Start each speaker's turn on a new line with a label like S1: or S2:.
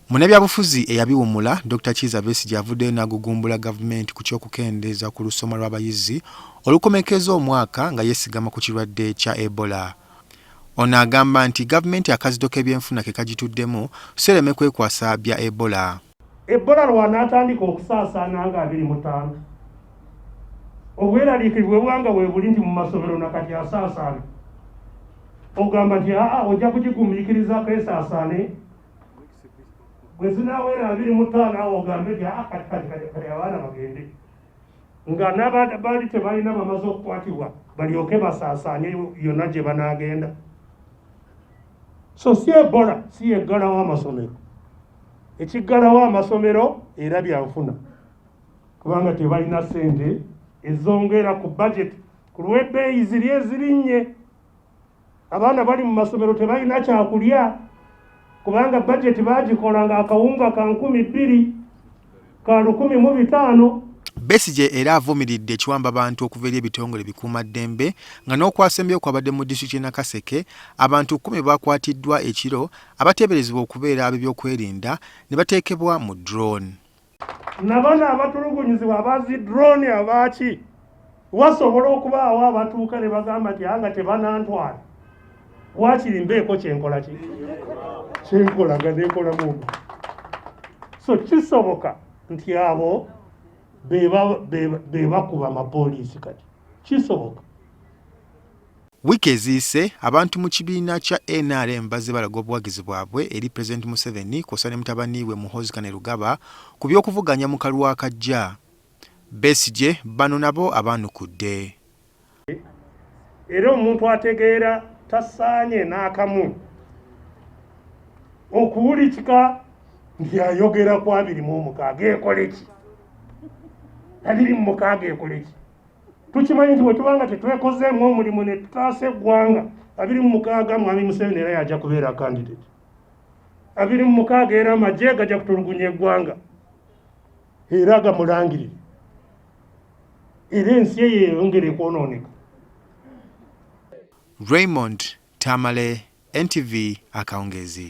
S1: Munnabyabufuzi
S2: eyabiwumula Dr Kiiza Besigye avuddeyo n'agugumbula gavumenti ku ky'okukendeeza ku lusoma lw'abayizi olukomekeza omwaka nga yeesigama ku kirwadde kya Ebola. Ono agamba nti gavumenti akazito k'ebyenfuna ke kagituddemu so ereme kwekwasa bya Ebola. Ebola
S3: lw'anaatandika okusaasaana nga abiri mu ttaano, obweraliikirivu bwe buba nga weebuli nti mu masomero na kati asaasaana, ogamba nti aa ojja kugigumiikirizaako esaasaane bwe zinaawera abiri mu ttaano awo ogambe nti aa kati kati kati kati abaana bagende nga nabali tebalina bamaze okukwatibwa balyoke basaasaanye yonna gye banaagenda so si ebola si yeggalawo amasomero ekiggalawo amasomero era byanfuna kubanga tebalina ssente ezongera ku bajeti ku lw'ebbeeyi ziri ezirinnye abaana bali mu masomero tebalina kyakulya kubanga bajeti baagikola ng'akawunga ka nkumi bbiri ka lukumi mu bitaano Besigye
S2: era avumiridde ekiwamba abantu okuva eri ebitongole bikuumaddembe nga n'okwasembeyo kwabadde mu disitulikiti y'e Nakaseke abantu kkumi baakwatiddwa ekiro abateeberezebwa okubeera ab'ebyokwerinda ne bateekebwa mu drone. Nabano
S3: abatulugunyizibwa abazi drone abaaki? wasobola okubaawo abatuuka ne bagamba nti anga tebanantwala wakiri mbeeko kyenkola ki kyenkola nga nekolamu omu so kisoboka nti abo bebakuba amapoliisi kati kisoboka
S2: wiiki eziyise abantu mu kibiina kya nrm bazze balaga obuwagizi bwabwe eri pulezidenti museveni kwosa ne mutabani we muhozikane lugaba ku by'okuvuganya mu kalwa akajja Besigye bano nabo abaanukudde.
S3: Era omuntu ategeera tasaanye n'akamu okuwulikika nti ayogera ku abiri mu omukaaga ekole ki? Abiri mu mukaaga ekole ki? Tukimanyi nti bwe tuba nga tetwekozeemu omulimu ne tutaasa eggwanga, abiri mu mukaaga Mwami Museveni era yajja kubeera kandidate. Abiri mu mukaaga era amagye gajja kutulugunya eggwanga. era agamulangirire era ensi eyo eyongere kwonooneka
S2: raymond tamale ntv akawungeezi